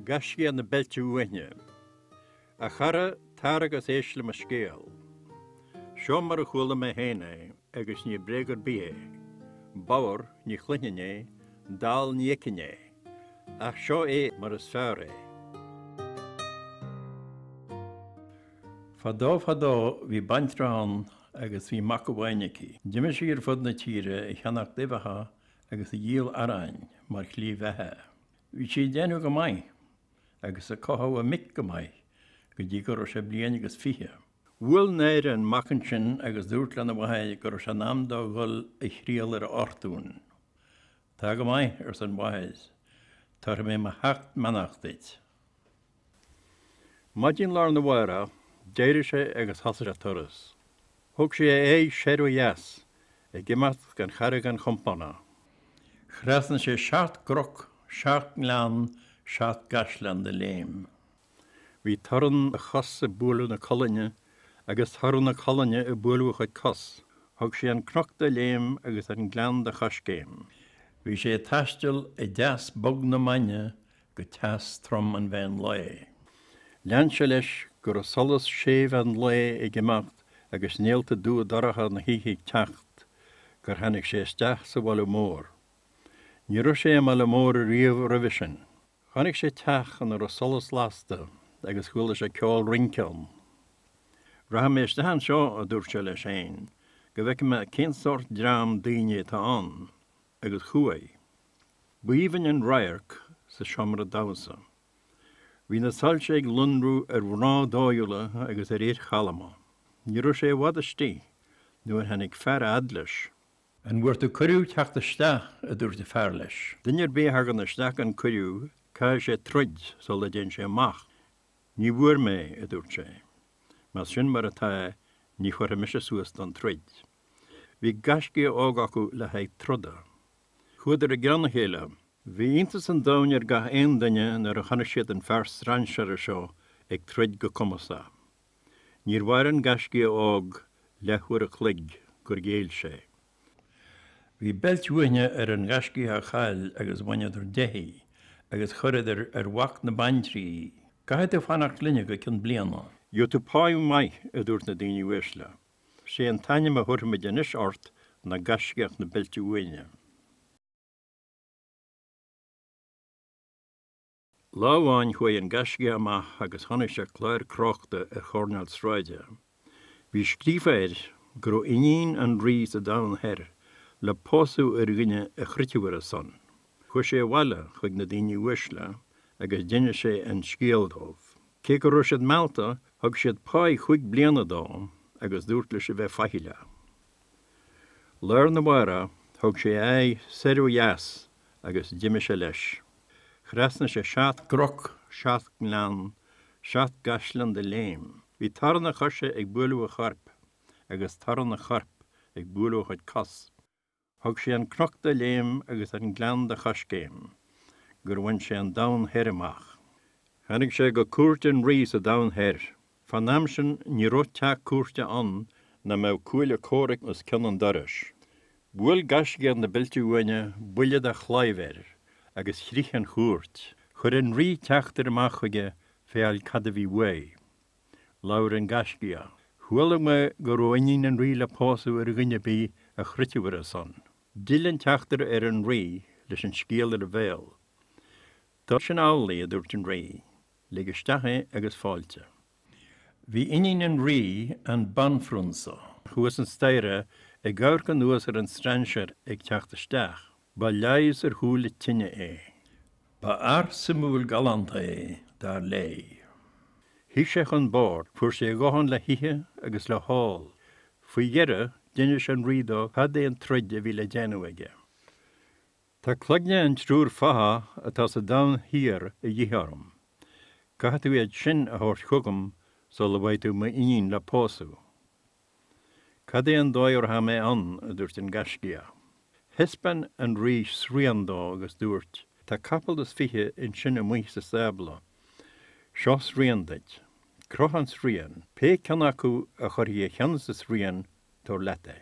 Gaiscíoch na Beilte Uaithne. A chara, tar agus éist le mo scéal. Seo mar a chuala mé féin é. agus ní bréag ar bith é, bodhar ní chluinfinn é, dall ní fheicfinn é, ach seo é mar is fearr é. Fadó fadó bhí baintreach ann agus bhí mac amháin aici. D'imigh sí ar fud na tíre ag ceannacht uibheacha agus ag díol aráin mar shlí bheatha. Bhí sí ag déanamh go maith agus ag cothú a mic go maith go dtí go raibh sé bliain agus fiche. Bhuail náire an mac ansin agus dúirt lena mhathair go raibh sé in am dó dhul a thriall ar a fhortún. Tá go maith, arsa an mhathair, tabharfaidh mé mo sheacht mbeannacht duit. Maidin lá arna mhárach, d'éirigh sé agus thosaigh sé a turas. Thug sé a aghaidh soir ó dheas, ag imeacht gan chara gan chompánach. Thrasnaigh sé seacht gcnoc, seacht ngleann, seacht gcaisleán de léim. Bhí torann a chos ag bualadh na colainne agus torann na colainne ag bualadh a chuid cos. Thug sé an cnoc de léim agus an gleann de choiscéim. Bhí sé ag taisteal i dteas bog na maidne go teas trom an mheán lae. Lean sé leis go raibh solas séimh an lae ag imeacht agus néalta dubha dorcha na hoíche ag teacht gur tháinig sé isteach sa bhaile mór. Ní raibh sé i mbaile mór riamh roimhe sin. Chonaic sé teach ina raibh solas lasta agus chuala sé ceol rince ann. Rachaidh mé isteach anseo, a dúirt sé leis féin, go bhfeice mé cén sórt dream daoine atá ann, agus chuaigh. B'aoibhinn an radharc sa seomra damhsa. Bhí na soilse ag lonrú ar mhná dóighiúla agus ar fhir chalma. Ní raibh sé i bhfad istigh nuair a tháinig fear a fhad leis. An bhfuair tú cuireadh a theacht isteach? a dúirt an fear leis. Duine ar bith a thagann isteach gan cuireadh, caithfidh sé troid sula dtéann sé amach. Ní bhfuair mé, a dúirt sé. Más sin mar atá, ní chuirfidh mise suas don troid. Bhí gaiscíoch óg acu le haghaidh troda. Chuadar i gceann a chéile. Bhí iontas an domhain ar gach aon duine nuair a chonaic siad an fear strainséara seo ag troid go cumasach. Níor mhair an gaiscíoch óg leathuair a chloig gur ghéill sé. Bhí beilt uaithne ar an ngaiscíoch a chaill agus bhaineadar de í agus chuireadar ar mhac na baintrí í. Caithfidh tú fanacht linne go cionn bliana. Gheobhaidh tú pá maith, a dúirt na daoine uaisle. Sé an t-ainm a thabharfaimid anois ort ná gaiscíoch na beilte uaithne. Lá amháin chuaigh an gaiscíoch amach agus chonaic sé clár crochta ar choirnéal sráide. Bhí scríofa air go raibh iníon an rí sa Domhan Thoir le pósadh ar dhuine a throidfeadh ar a son. Chuaigh sé abhaile chuig na daoine uaisle agus d'inis sé an scéal dóibh. Cé go raibh siad meallta, thug siad páigh chúig bliana dó agus dúirt leis a bheith faichilleach. Lá arna mhárach, thug sé a aghaidh soir ó dheas agus d'imigh sé leis. Thrasnaigh sé seacht gcnoc, seacht ngleann, seacht gcaisleáin de léim. Bhí torann a choise ag bualadh a choirp agus torann a choirp ag bualadh a chuid cos. Thug sé an cnoc de léim agus an gleann de choiscéim gur bhain sé an Domhan Thoir amach. Tháinig sé go cúirt an rí sa Domhan Thoir Fán am sin ní raibh teach cúirte ann nach mbeadh cuaille comhraic os cionn an dorais. Bhuail gaiscíoch na Beilte Uaine buille de chlaíomh air agus chrith an chúirt. Chuir an rí teachtaire amach chuige féacháil cad a bhí uaidh. Labhair an gaiscíoch. Chuala mé go raibh iníon an rí le pósadh ar dhuine ar bith a throidfeadh ar a son. D'fhill an teachtaire ar an rí leis an scéal ar a bhéal. Tá sin amhlaidh, a dúirt an rí. Lig isteach é agus fáilte. Bhí iníon an rí, an banphrionsa, thuas an staighre ag amharc anuas ar an strainséir ag teacht isteach. Ba leigheas ar shúile tinne é. Ba fhear suimiúil galánta é, dar léi. Shuigh sé chun boird, fuair sé a dhóthain le hithe agus le hól. Faoi dheireadh, d'inis an rí dó cad é an troid a bhí le déanamh aige. Tá cloigne an triúr fathach atá sa Domhan Thiar a dhíth orm. Caithfidh tú iad sin a thabhairt chugam sula bhfaighidh tú m'iníon le pósadh. Cad é an dóigh a rachaidh mé ann? a dúirt an Gaiscíoch. Thaispeáin an Rí srian dó agus dúirt, Tá capall is fiche ansin amuigh sa stábla. Seo srian duit. Croith an srian. Pé ceann acu a chuirfidh a cheann sa srian, tabhair leat é.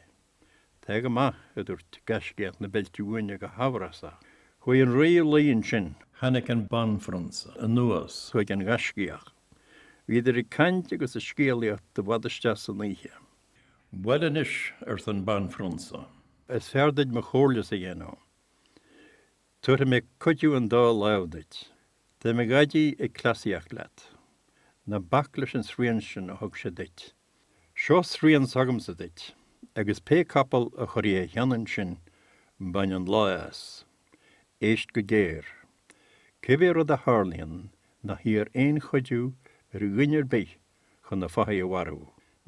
Tá go maith, a dúirt gaiscíoch na Beilte Uaine go hamhrasach. Chuaigh an rí a luí ansin. Tháinig an banphrionsa anuas chuig an ngaiscíoch. Bhíodar ag caint agus ag scéalaíocht i bhfad isteach san oíche. Bhuel anois, arsa an banphrionsa. is fearr duit mo chomhairlese a dhéanamh. Tabharfaidh mé cuidiú an dá lámh duit. Tá mo dhaidí ag cleasaíocht leat. Ná bac leis an srian sin a thug sé duit. Seo srian s'agamsa duit, agus pé capall a chuirfidh a cheann ansin, bain an lá as. Éist go géar. Cibé rud a tharlaíonn, ná hiarr aon chuidiú ar dhuine ar bith chun na fathaigh a mharú.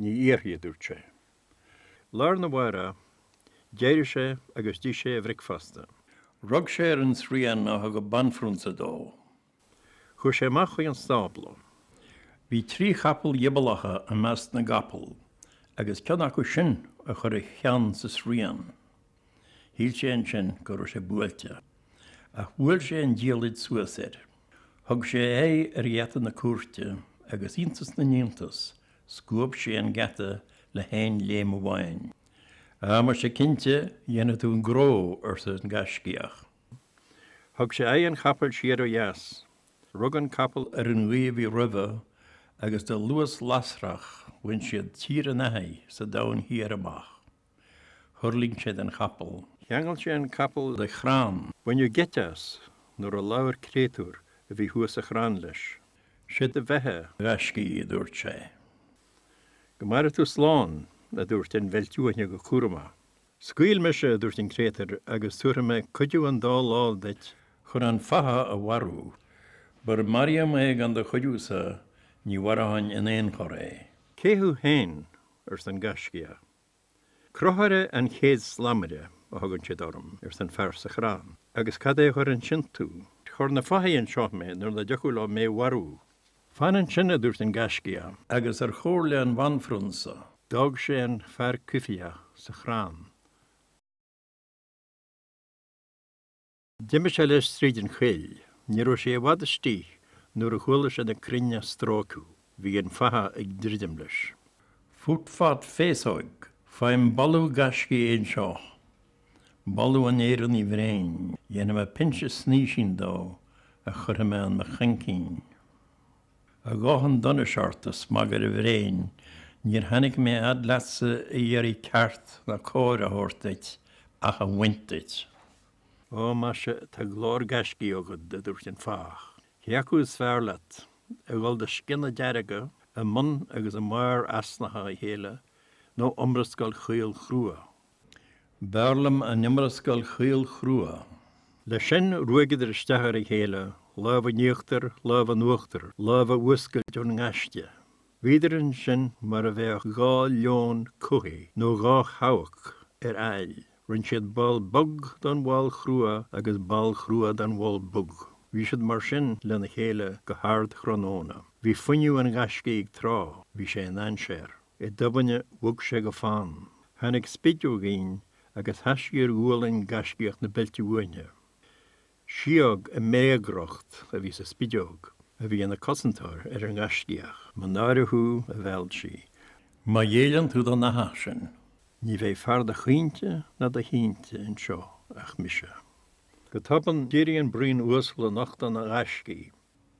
Ní iarrfaidh, a dúirt sé. Lá arna mhárach, d'éirigh sé agus d'ith sé a bhricfeasta. Rug sé ar an srian a thug an banphrionsa dó. Chuaidh sé amach chuig an stábla. Bhí trí chapall ghioballacha i measc na gcapall agus ceann acu sin a chuir a cheann sa srian. Shíl sé ansin go raibh sé buailte. Ach bhuail sé an diallaid suas air. Thug sé a aghaidh ar gheata na cúirte agus iontas na n-iontas, scuab sé an geata le haon léim amháin. Á, mhuise, cinnte, dhéanfaidh tú an gnó, arsa an gaiscíoch. Thug sé aghaidh an chapaill siar ó dheas. Rug an capall ar an ghaoth a bhí roimhe agus de luas lasrach bhain siad Tír an Fhathaigh sa Domhan Thiar amach. Thuirling sé den chapall. Cheangail sé an capall de chrann. Baineadh geit as nuair a labhair créatúr a bhí thuas sa chrann leis. 'Sé do bheatha, a ghaiscí, a dúirt sé. 'Go maire tú slán, a dúirt an Bheilt Uaine go cúramach. Scaoil mise, a dúirt an créatúr, agus tabharfaidh mé cuidiú an dá lámh duit chun an fathach a mharú. Mura maraíom é gan do chuidiúsa, ní mharóinn in aon chor é. Cé thú féin? arsa an gaiscíoch. Crochaire an chéad slamaire a thugann siad orm, arsa an fear sa chrann. Agus cad é a chuir ansin tú? Chuir na fathaigh anseo mé nuair nach dtiocfadh leo mé a mharú. Fan ansin, a dúirt an Gaiscíoch. Agus ar chomhairle an Bhanphrionsa d'fhág sé an fear coimhthíoch sa chrann. D'imigh sé leis tríd an choill. Ní raibh sé i bhfad istigh nuair a chuala sé na crainn á stróiceadh. Bhí an fathach ag druidim leis. Fut fat féasóg, faighim boladh gaiscigh anseo. Boladh an Éireannaigh bhréin. Dhéanfaidh mé pinse snaoisín de a chuirfidh mé in mo chaincín. A dhath an donais ort, a smagaire bhréin, níor tháinig mé fhad leatsa a iarraidh ceart ná cóir a thabhairt duit ach a bhaint díot. Ó, maise, tá glór gaiscigh agat, a dúirt an fathach. Cé acu is fearr leat, a dhul de sciana dearga i mbun agus i mbarr easnacha a chéile, nó iomrascáil chaol chrua B'fhearr liom an iomrascáil chaol chrua. Leis sin, ruaigeadar isteach ar a chéile, lámh in íochtar, lámh in uachtar, lámh a fhuascailt ón ngaiste. Bhíodar ansin mar a bheadh dhá leon cuthaigh, nó dhá sheabhac ar aill. Rinne siad ball bog den bhall chrua agus ball crua den bhall bhog. Bhí siad mar sin lena chéile go hardthráthnóna. Bhí fuinneamh an ghaiscígh ag trá, bhí sé i ndainséar. I dtobainne bhog sé go fann, tháinig spideoigín agus sheas sí ar ghualainn gaiscíoch na beilte uaine. Síog i mbréagriocht a bhí sa spideog a bhí ina cosantóir ar an ngaiscíoch. Mo náire thú, a mheilt sí, má ghéilleann tú don fhathach sin, ní bheidh fear do chaointe ná do shínte anseo ach mise. Go tobann, d'éirigh an braon uasal in ucht an ghaiscígh.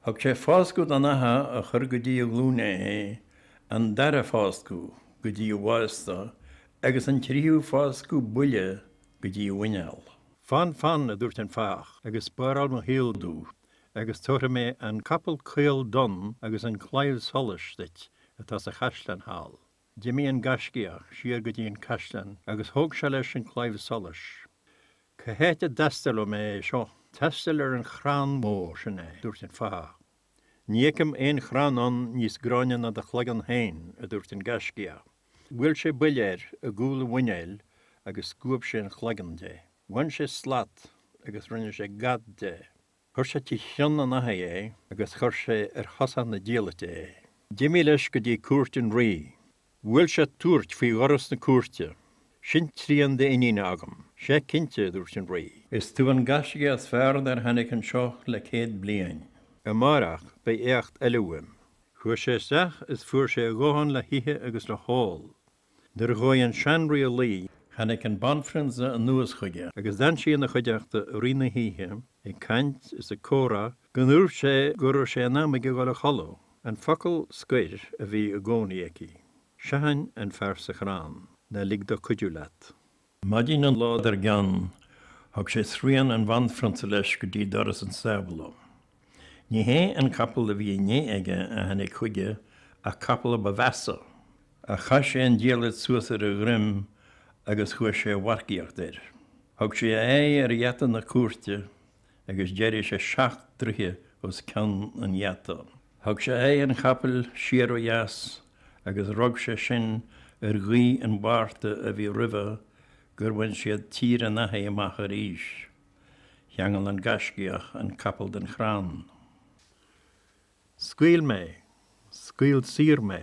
Thug sé fáscadh don fhathach a chuir go dtí a ghlúine é, an dara fáscadh go dtí a bhásta, agus an tríú fáscadh buille go dtí a mhuineál. Fan, fan, a dúirt an fathach, agus spáráil mo shaol domh, agus tabharfaidh mé an capall caol donn agus an claíomh solais duit atá sa chaisleán thall. D'imigh an gaiscíoch siar go dtí an caisleán agus thóg sé leis an claíomh solais. 'Cá háit a dtástálfaidh mé é seo? 'Tástáil ar an chrann mór sin é, a dúirt an fathach. 'Ní fheicim aon chrann ann níos gráinne ná do chloigeann féin, a dúirt an gaiscíoch. Bhuail sé buille air i gcúl an mhuinéil agus scuab sé an chloigeann de. Bhain sé slat agus rinne sé gad de. Chuir sé trí chionn an fhathaigh é agus chuir sé ar chosán na diallaite é. D'imigh leis go dtí cúirt an rí. Bhuail sé tuairt faoi dhoras na cúirte. Sin trian d'iníne agam. Sea cinnte, a dúirt an rí. Is tú an gaiscíoch is fearr dár tháinig anseo le céad bliain. Amárach beidh éacht eile uaim. Chuaigh sé isteach is fuair sé a dhóthain le hithe agus le hól. Nuair a chuaigh an seanrí a luí, tháinig an banphrionsa anuas chuige agus d'fhan sí ina chuideachta i rith na hoíche, ag caint is ag comhrá go ndúirt sé go raibh sé in am aige dhul a chodladh. An focal scoir a bhí i gcónaí aici. Seachain an fear sa chrann. Ná lig dó cuidiú leat. Maidin an lá dar gcionn, thug sé srian an bhanphrionsa leis go dtí doras an stábla. Ní hé an capall a bhí inné aige a tháinig chuige ach capall a ba mheasa. Ach chaith sé an diallait suas ar a dhroim agus chuaigh sé a mharcaíocht air. Thug sé a aghaidh ar gheata na cúirte agus d'éirigh sé seacht dtroithe os cionn an gheata. Thug sé aghaidh an chapaill siar ó dheas agus rug sé sin ar ghaoth an Mhárta a bhí roimhe gur bhain siad Tír an Fhathaigh amach arís. Cheangail an gaiscíoch an capall den chrann. 'Scaoil mé! Scaoil saor mé!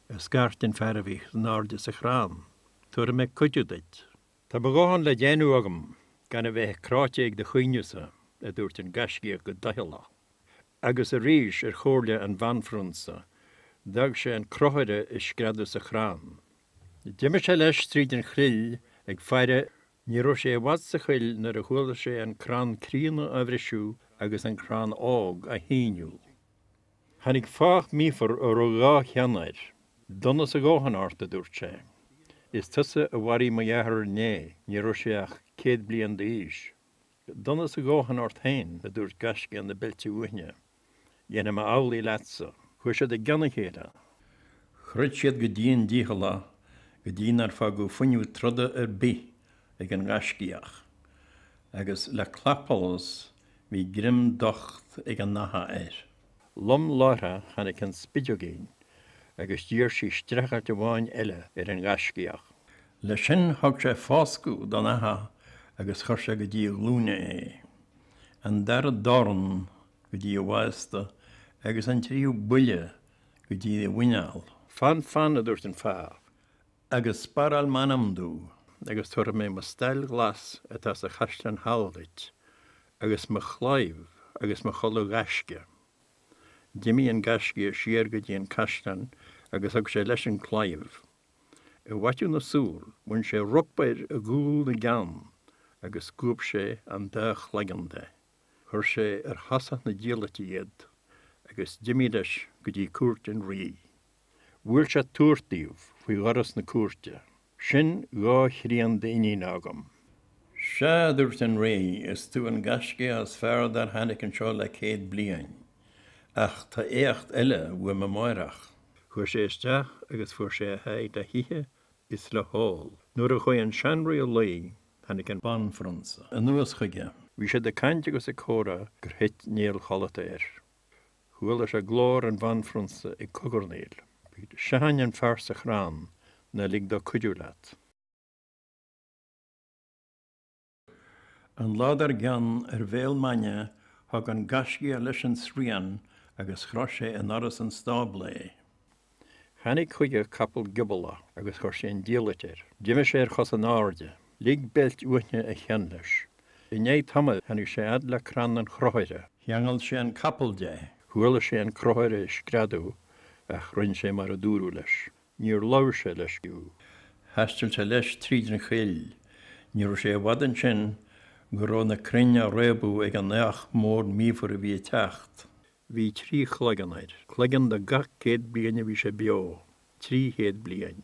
a scairt an fear a bhí in airde sa chrann. 'Tabharfaidh mé cuidiú duit. Tá mo dhóthain le déanamh agam gan a bheith cráite ag do chaoineadh-sa, a dúirt an Gaiscíoch go doicheallach. Agus arís, ar chomhairle an Bhanphrionsa, d'fhág sé an crochaire ag screadadh sa chrann. D'imigh sé leis tríd an choill ag faire. Ní raibh sé i bhfad sa choill nuair a chuala sé an crann críonna á bhriseadh agus an crann óg á shíneadh. Tháinig fathach míofar a raibh dhá cheann air. Donas a dhóthain ort, a dúirt sé. Is tusa a mharaigh mo dheartháir inné, ní raibh sé ach céad bliain d'aois. Donas a dhóthain ort féin, a dúirt gaiscíoch na beilte uaithne. Dhéanfaidh mé amhlaidh leatsa. Chuaigh siad i gceann a chéile. Throid siad go dian dícheallach go dtí nár fágadh fuinneamh troda ar bith ag an ghaiscíoch. Agus le clapsholas Bhí greim docht ag an fhathach air. Lom láithre tháinig an spideoigín agus d'iarr sí streachailt amháin eile ar an ghaiscíoch. Le sin thug sé fáscadh don fhathach agus chuir sé go dtí a ghlúine é. An dara dorn go dtí a bhásta agus an tríú buille go dtí a mhuineál. Fan, fan, a dúirt an fathach, Agus sparáil m'anam domh. Agus tabharfaidh mé mo stail ghlas atá sa chaisleán thall duit, agus mo chlaíomh agus mo chulaith ghaisce. D'imigh an gaiscíoch siar go dtí an caisleán agus thug sé leis an chlaíomh. I bhfaiteadh na súl bhain sé ropaire i gcúl na gceann agus scuab sé an dá chloigeann de. Chuir sé ar thosach na diallaite iad agus d'imigh leis go dtí cúirt an rí. Bhuail sé tuairt díobh faoi dhoras na cúirte, Sin dhá thrian d'iníne agam. Sea, a dúirt an rí, is tú an gaiscíoch is fearr dár tháinig anseo le céad bliain. Ach tá éacht eile uaim amáireach. Chuaigh sé isteach agus fuair sé a sháith le hithe is le hól. Nuair a chuaigh an seanrí a luí, Tháinig an banphrionsa anuas chuige. Bhí siad ag caint agus ag comhrá gur thit néal codlata air. Chuala sé glór an bhanphrionsa ag cogarnaíl. Seachain an fear sa chrann ná lig dó cuidiú leat. An lá dar gcionn, ar bhéal maidhne, thug an gaiscíoch leis an srian agus chroith sé i ndoras an stábla é. Tháinig chuige capall gioballach agus chuir sé an diallait air. D'imigh sé ar chosa in airde. Lig beilt uaithne a cheann leis. I ndiaidh tamaill tháinig sé fhad le crann an chrochaire. Cheangail sé an capall de. Chuala sé an crochaire ag screadadh ach rinn sé mar a dúradh leis. Níor labhair sé leis fiú. Thaistil sé leis tríd an choill. Ní raibh sé i bhfad ansin go raibh na crainn á réabadh ag an fhathach mór míofar a bhí ag teacht. Bhí trí chloigeann air. Cloigeann do gach céad bliain a bhí sé beo. Trí chéad bliain.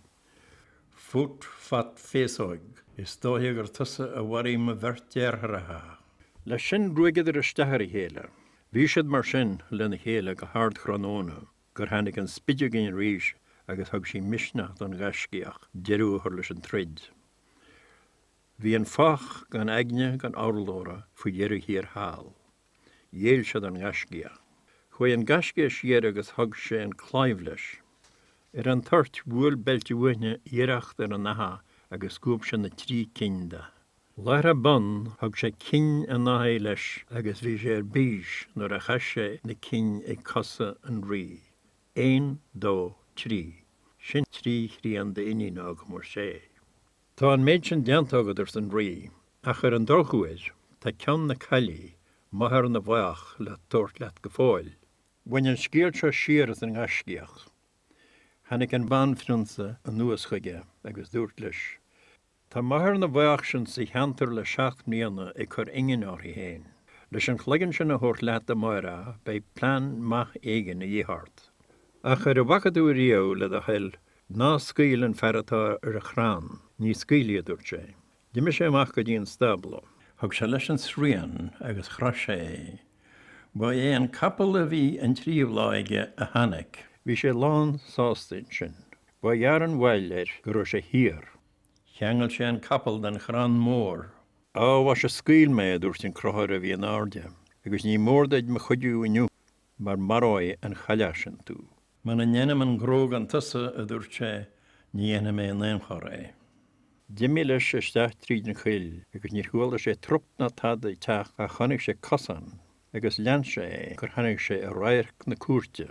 Fut, fat, féasóig. Is dóiche gur tusa a mharaigh mo bheirt deartháireacha. Leis sin ruaigeadar isteach ar a chéile. Bhí siad mar sin lena chéile go hardthráthnóna gur tháinig an spideoigín arís agus thug sí misneach don ghaiscíoch deireadh a chur leis an troid. Bhí an fathach gan aithne gan urlabhra faoi dheireadh thiar thall. Ghéill siad don ghaiscíoch. Chuaigh an gaiscíoch siar agus thug sé an claíomh leis. Ar an toirt, bhuail Beilte Uaine iarracht ar an fhathach agus scuab sé na trí cinn de. Láithreach bonn, thug sé cinn an fhathaigh leis agus bhí sé ar bís nuair a chaith sé na cinn ag cosa an rí. Aon, dó, trí. Sin trí thrian d'iníon agam, ar sé. Tá an méid sin déanta agat, arsa an Rí, ach ar an drochuair, tá ceann na caillí, máthair na bhfathach, le tabhairt leat go fóill. Bhain an scéal seo siar as an nGaiscíoch. Tháinig an Banphrionsa anuas chuige agus dúirt leis, Tá máthair na bhfathach sin sa cheantar le seacht mbliana ag cur ingne uirthi féin. Leis an chloigeann sin a thabhairt leat amárach, beidh plean maith éigin a dhíth ort. Ach ar a bhfaca tú riamh le do thoil Ná scaoil an fear atá ar an chrann. Ní scaoilfidh, a dúirt sé. D'imigh sé amach go dtí an stábla. Thug sé leis an srian agus chroith sé é. Ba é an capall a bhí an tríú lá aige a tháinig. Bhí sé lán sásta ansin. Ba ghearr an mhoill air go raibh sé thiar. Cheangail sé an capall den chrann mór. Á, a mhaise, scaoil mé, a dúirt an crochaire a bhí in airde, agus ní mór duit mo chuidiú inniu. mar maróidh an chailleach sin tú. Muna ndéanaim an gnó gan tusa, a dúirt sé, ní dhéanfaidh mé in aon chor é. D'imigh leis isteach tríd an choill agus níor chuala sé trup ná tada ag teacht ach chonaic sé cosán agus lean sé é gur tháinig sé i radharc na cúirte.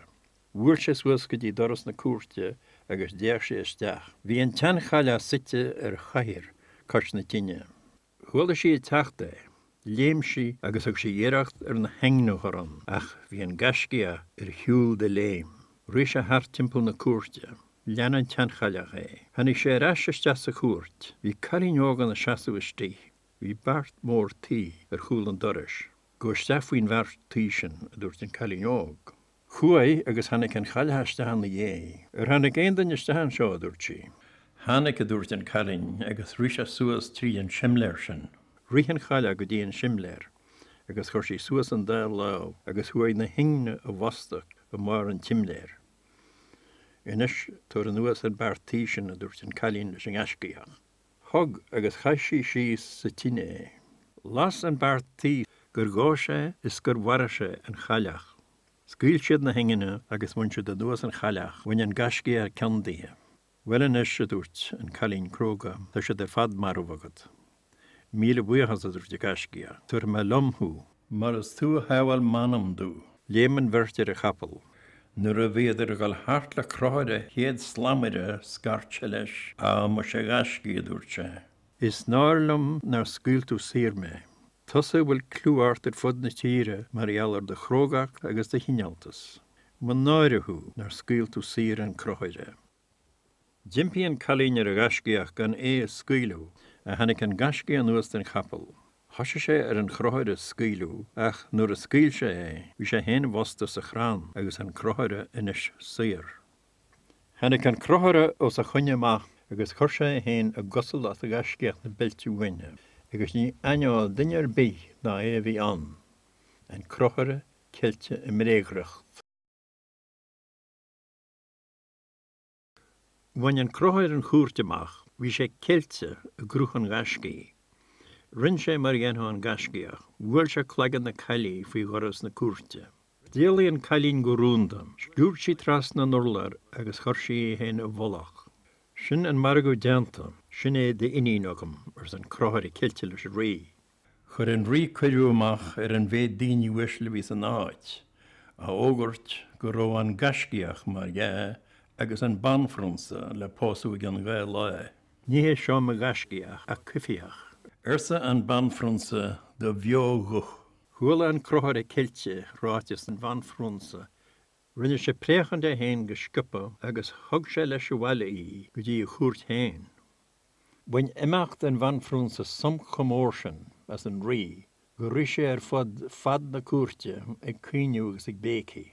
Bhuail sé suas go dtí doras na cúirte agus d'fhéach sé isteach. Bhí an tseanchailleach suite ar chathaoir cois na tine. Chuala sí ag teacht é. Léim sí agus thug sí iarracht ar na hingne a chur ann ach bhí an Gaiscíoch ar shiúl de léim. Rith sé thart timpeall na cúirte. Lean an tseanchailleach é. Tháinig sé ar ais isteach sa chúirt. Bhí cailín óg ina seasamh istigh. Bhí beart mór tuí ar chúl an dorais. Gabh isteach faoin bheart tuí sin, a dúirt an cailín óg. Chuaigh agus tháinig an chailleach isteach ina dhiaidh. Ar tháinig aon duine isteach anseo? a dúirt sí. Tháinig, a dúirt an cailín, agus rith sé suas tríd an simléar sin. Rith an chailleach go dtí an simléar agus chuir sí suas an dá lámh agus chuaigh na hingne i bhfostú i mbarr an tsimléir. Anois, tabhair anuas an beart tuí sin, a dúirt an cailín leis an ngaiscíoch. Thug agus chaith sí síos sa tine é. Las an beart tuí gur dhó sé is gur mharaigh sé an chailleach. Scaoil siad na hingne agus bhain siad anuas an chailleach. Bhain an gaiscíoch an ceann daoithe. Bhuel anois, a dúirt an cailín cróga, tá siad ar fad marbh agat. Míle buíochas, a dúirt an gaiscíoch, tabharfaidh mé liom thú. Mar is tú a shábháil m'anam domh. Léim an bheirt ar a chapall. Nuair a bhíodar ag dul thart le crochaire chéad slamaire scairt sé leis, Á, maise, a ghaiscígh, a dúirt sé, is náir liom nár scaoil tú saor mé, tusa a bhfuil clú ort ar fud na tíre mar gheall ar do chrógacht agus do chineáltas. Mo náire thú nár scaoil tú saor an crochaire. D'impigh an cailín ar an ghaiscíoch gan é a scaoileadh, ach tháinig an gaiscíoch anuas den chapall. Thoisigh sé ar an chrochaire a scaoileadh, ach nuair a scaoil sé é, bhí sé féin i bhfostú sa chrann agus an crochaire anois saor. Tháinig an crochaire os a choinne amach agus chuir sé é féin i gcosúlacht ghaiscíoch na beilte uaine, agus ní aithneodh duine ar bith nach é a bhí ann, an crochaire ceilte i mbréagriocht. Bhain an crochaire an chúirt amach, bhí sé ceilte i gcruth an ghaiscígh. Rinn sé mar a dhéanfadh an gaiscíoch, bhuail sé cloigeann na caillí faoi dhoras na cúirte. D'éalaigh an cailín go rúnda, sciúrd sí trasna an urláir agus chuir sí í féin i bhfolach. Sin an margadh déanta, sin é d'iníon agam, arsa an crochaire ceilte leis an rí. Chuir an rí cuireadh amach ar an mhéid daoine uaisle a bhí san áit, á fhógairt go raibh an gaiscíoch mar dhea agus an banphrionsa le pósadh i gceann dhá lá. Ní hé seo mo ghaiscíoch ach coimhthíoch. arsa an banphrionsa de bheoghuth. Chuala an crochaire ceilte ráiteas an bhanphrionsa. Rinne sé préachán de féin go sciobtha agus thug sé leis abhaile í go dtí a chúirt féin. Bhain imeacht an Bhanphrionsa sonc chomh mór sin as an Rí gur rith sé ar fud fad na cúirte ag caoineadh agus ag béicigh.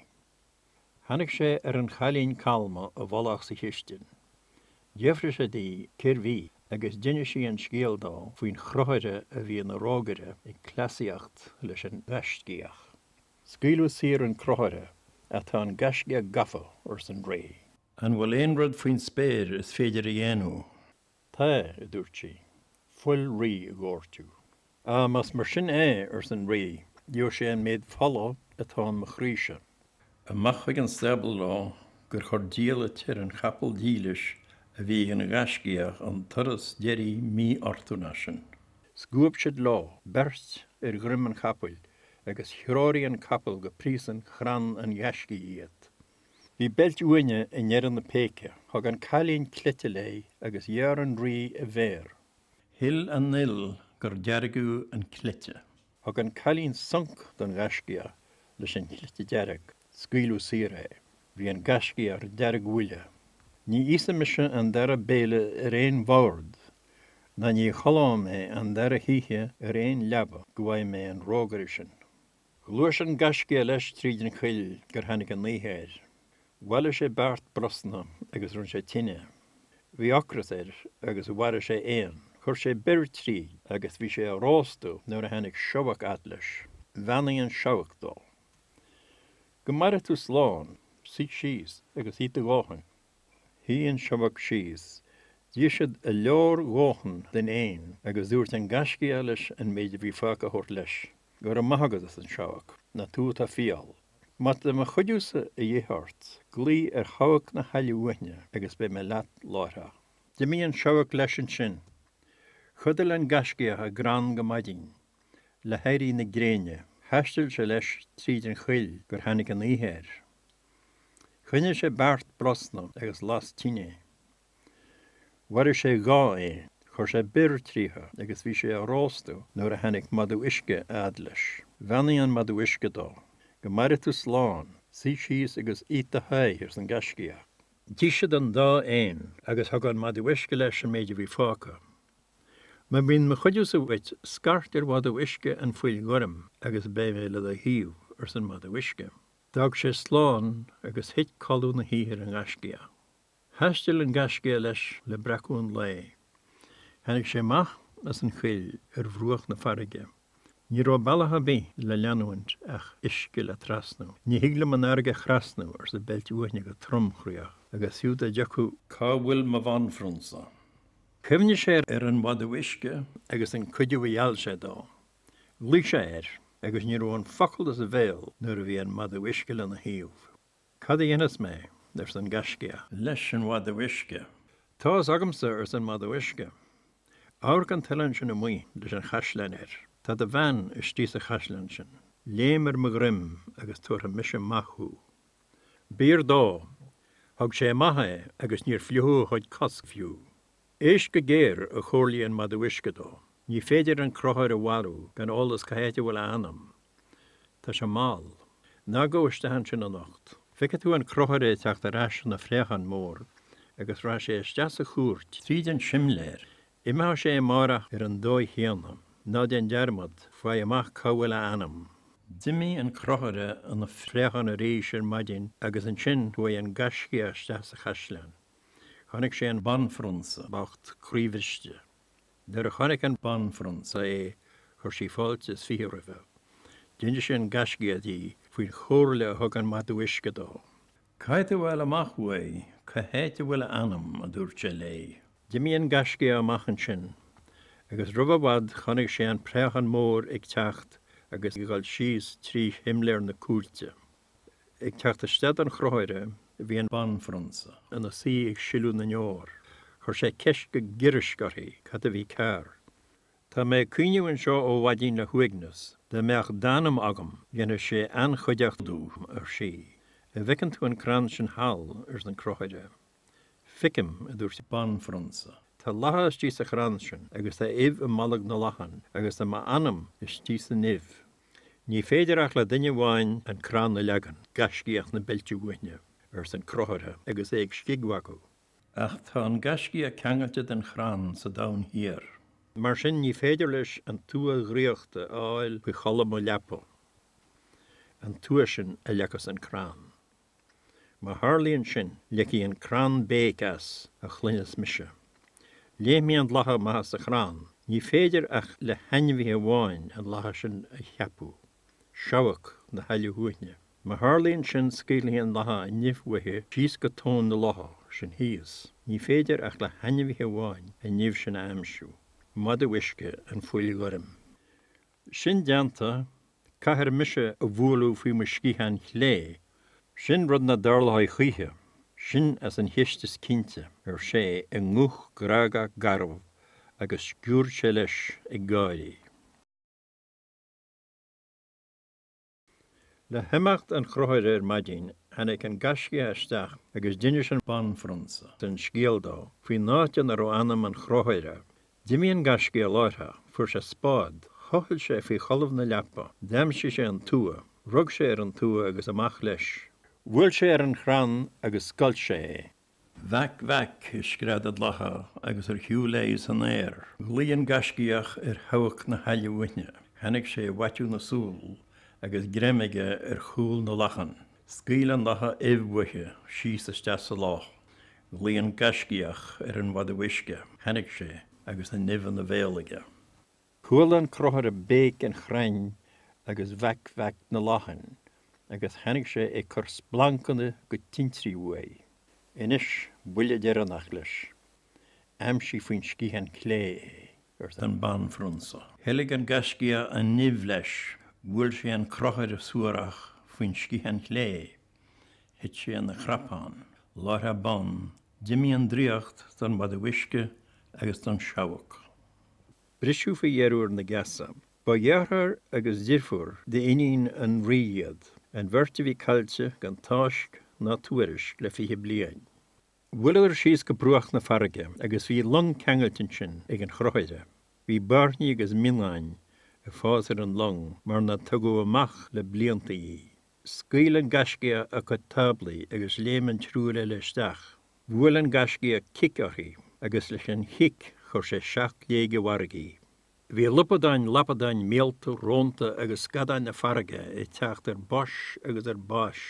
Tháinig sé ar an chailín calma i bhfolach sa chistin. D'fhiafraigh sé di cérbh í agus d'inis sí an scéal dó faoin chrochaire a bhí ina rógaire ag cleasaíocht leis an ngaiscíoch. Scaoileadh saor an crochaire ach tá an gaiscíoch gafa, arsa an Rí. An bhfuil aon rud faoin spéir is féidir a dhéanamh? Tá, a dúirt sí, fuil rí a dhoirteadh. Á, más mar sin é, arsa an rí, gheobha sé an méid fola atá in mo chroíse. Amach chuig an stábla leo gur chuir diallait ar an chapall dílis a bhí ag an Ghaiscíoch an turas deiridh mífhortúnach sin. Scuab siad leo beirt ar dhroim an chapaill agus threoraigh an capall go príosún chrann an Ghaiscígh iad. Bhí Beilt Uaithne i ndeireadh na péice. Thug an cailín cleite léi agus ghearr an rí a mhéar. Shil an fhuil gur deargadh an cleite. Thug an cailín sonc don ghaiscíoch leis an chleite dearg. Scaoileadh saor é. Bhí an gaiscíoch ar deargbhuile. Ní íosfaidh mise an dara béile ar aon bhord, ná ní chodlóidh mé an dara hoíche ar aon leaba go bhfaighidh mé an rógaire sin. Ghluais an gaiscíoch leis tríd an choill gur tháinig an oíche air. Bhailigh sé beart brosna agus rinne sé tine. Bhí ocras air agus mharaigh sé éan. Chuir sé bior tríd agus bhí sé á róstadh nuair a tháinig seabhac a fhad leis. Bheannaigh an seabhac dó. Go maire tú slán. Suigh síos agus ith do dhóthain. Shuigh an seabhac síos. D'ith siad a leordhóthan den éan agus dúirt an Gaiscíoch leis an méid a bhí fágtha a thabhairt leis. Go raibh maith agat, arsa an seabhac. Nach tú atá fial. Má tá mo chuidiúsa a dhíth ort, glaoigh ar Sheabhac na hAille Uaithne agus beidh mé leat láithreach. D'imigh an seabhac leis ansin. Chodail an Gaiscíoch i gcrann go maidin. Le héirí na gréine, thaistil sé leis tríd an choill gur tháinig an oíche air. Chruinnigh sé beart brosna agus las tine. Mharaigh sé dhá éan, chuir sé bior tríothu agus bhí sé á róstadh nuair a tháinig madadh uisce a fhad leis. Bheannaigh an madadh uisce dó. Go maire tú slán, suigh síos agus ith do sháith, arsa an gaiscíoch. D'ith siad an dá éan agus thug an madadh uisce leis an méid a bhí fágtha. Má bhíonn mo chuidiúsa uait, scairt ar mhadadh uisce an phoill ghoirm agus beidh mé le do thaobh, arsa an madadh uisce. D'fhág sé slán agus thit codladh na hoíche ar an nGaiscíoch. Thaistil an Gaiscíoch leis le breacadh an lae. Tháinig sé amach as an choill ar bhruach na farraige. Ní raibh bealach ar bith le leanúint ach uisce le trasnú. Ní thig liom an fharraige a thrasnú, arsa Beilt Uaithne go tromchroíoch, agus fiú dá dtiocfadh, cá bhfuil mo bhanphrionsa? Chuimhnigh sé ar an mhadadh uisce agus an cuidiú a gheall sé dó. Ghlaoigh sé air agus ní raibh an focal as a bhéal nuair a bhí an madadh uisce lena thaobh. Cad a dhéanfas mé? arsa an Gaiscíoch leis an mhadadh uisce. Tá's agamsa, arsa an madadh uisce. Amharc an t-oileán sin amuigh leis an chaisleán air. Tá do bhean istigh sa chaisleán sin. Léim ar mo dhroim agus tabharfaidh mise amach thú. B'fhíor dó. Thug sé amach é agus níor fliuchadh a chuid cos fiú. Éist go géar, a chomhairligh an madadh uisce dó. Ní féidir an Crochaire a mharú gan eolas cá háit a bhfuil a anam. Tá sé mall. Ná gabh isteach ansin anocht. Feicfidh tú an Crochaire ag teacht ar ais ina phréachán mór agus rachaidh sé isteach sa chúirt tríd an simléar. Imeoidh sé amárach ar an dóigh chéanna. Ná déan dearmad, faigh amach cá bhfuil a anam. D'imigh an Crochaire ina phréachán arís ar maidin agus ansin chuaigh an Gaiscíoch isteach sa chaisleán. Chonaic sé an banphrionsa bocht croíbhriste. Nuair a chonaic an banphrionsa é chuir sí fáilte is fiche roimhe. D'inis an gaiscíoch di faoin chomhairle a thug an madadh uisce dó. Caithfidh tú a fháil amach uaidh cá háit a bhfuil a anam, a dúirt sé léi. D'imigh an gaiscíoch amach ansin agus roimh i bhfad chonaic sé an préachán mór ag teacht agus ag dul síos trí shimléar na cúirte. Ag teacht isteach don Chrochaire, bhí an Banphrionsa ina suí ag sileadh na ndeor. Chuir sé ceist go giorraisc uirthi cad a bhí cearr. Tá mé ag caoineadh anseo ó mhaidin le huaigneas. Dá mbeadh d'anam agam, dhéanfadh sé an-chuideachta dom, ar sí. An bhfeiceann tú an crann sin thall? arsa an Crochaire. Feicim, a dúirt an Banphrionsa. Tá lacha istigh sa chrann sin agus tá uibh i mbolg na lachan agus tá m'anam istigh san uibh. Ní féidir ach le duine amháin an crann a leagan, gaiscíoch na beilte uaithne, arsa an Crochaire agus é ag scigmhagadh. Ach tá an gaiscíoch ceangailte den chrann sa Domhan Thiar. Mar sin, ní féidir leis an tua dhraíochta a fháil faoi cholbha mo leapa, an tua sin a leagfas an crann. Má tharlaíonn sin, ligfidh an crann béic as, a chluinfeas mise. Léimfidh an lacha amach as an chrann. Ní féidir ach le hainmhí amháin an lacha sin a cheapadh, seabhac na haille uaithne. Má tharlaíonn sin, scaoilfidh an lacha an uibh uaithi síos go tóin na locha sin thíos. Ní féidir ach le hainmhí amháin an uibh sin a aimsiú, madadh uisce an phoill ghoirm. Sin déanta, caithfear mise a bhualadh faoi mo sciathán chlé. Sin rud nach dtarlóidh choíche. Sin as an cheist is cinnte, ar sé i nguth grágach garbh agus sciurd sé leis ag gáirí. Le himeacht an Chrochaire ar maidin, tháinig an gaiscíoch isteach agus d'inis an banphrionsa an scéal dó faoin áit ina raibh anam an Chrochaire. D'imigh an gaiscíoch láithreach, fuair sé spád, thochail sé faoi cholbha na leapa, d'aimsigh sé an tua, rug sé ar an tua agus amach leis. Bhuail sé ar an chrann agus scoilt sé é. Vac, vac, a scread an lacha agus ar shiúl léi san aer, ghlaoigh an Gaiscíoch ar sheabhac na haille uaithne. Tháinig sé i bhfaiteadh na súl agus greim aige ar chúl na lachan. Scaoil an lacha uibh uaithi síos isteach sa loch. Ghlaoigh an Gaiscíoch ar an mhadadh uisce. Tháinig sé agus an uibh ina bhéal aige. Chuala an crochaire béic an chrainn agus vac vac na lachan agus tháinig sé ag cur splancanna agus tintrí uaidh. Anois, buille deireanach leis. Aimsigh faoin sciathán clé é, arsa an banphrionsa. Theilg an gaiscíoch an uibh leis. Bhuail sé an crochaire suarach faoin sciathán clé. Thit sé ina chnapán. Láithreach bonn, d'imigh an draíocht don mhadadh uisce agus don tseabhac. Briseadh faoi dheireadh na geasa. Ba dheartháir agus deirfiúr d'iníon an rí iad, an bheirt a bhí caillte gan tásc ná tuairisc le fiche bliain. Bhuaileadar síos go bruach na farraige agus bhí long ceangailte ansin ag an chrochaire. Bhí bairnigh agus mionnáin ag fás ar an loing mar nár tugadh amach le blianta í. Scaoil an gaiscíoch a cuid cáblaí agus léim an triúr eile isteach. Bhuail an gaiscíoch cic uirthi agus leis an chic chuir sé seacht léig i bhfarraige í. Bhí lupadáin, lapadáin, míolta, rónta agus scadáin na farraige ag teacht ar bois agus ar bais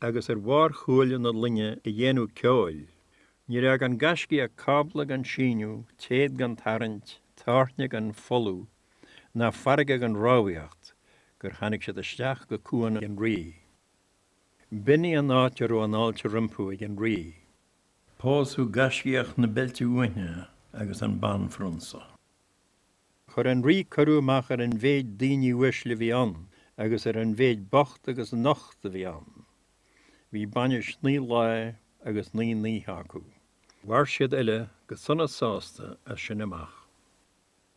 agus ar bharr chuaille na loinge ag déanamh ceoil. Níor fhág an gaiscíoch cábla gan síneadh, téad gan tarraingt, táirne gan folmhú. ná farraige gan rámhaíocht gur tháinig siad isteach go cuan an rí. B'in í an áit a raibh an fháilte rompu ag an rí. Pósadh gaiscíoch na beilte uaithne agus an banphrionsa. Chuir an rí cuireadh amach ar an mhéid daoine uaisle a bhí ann agus ar an mhéid bocht agus nocht a bhí ann. Bhí bainis naoi lá agus naoi n-oíche acu. Mhair siad uile go sona sásta as sin amach.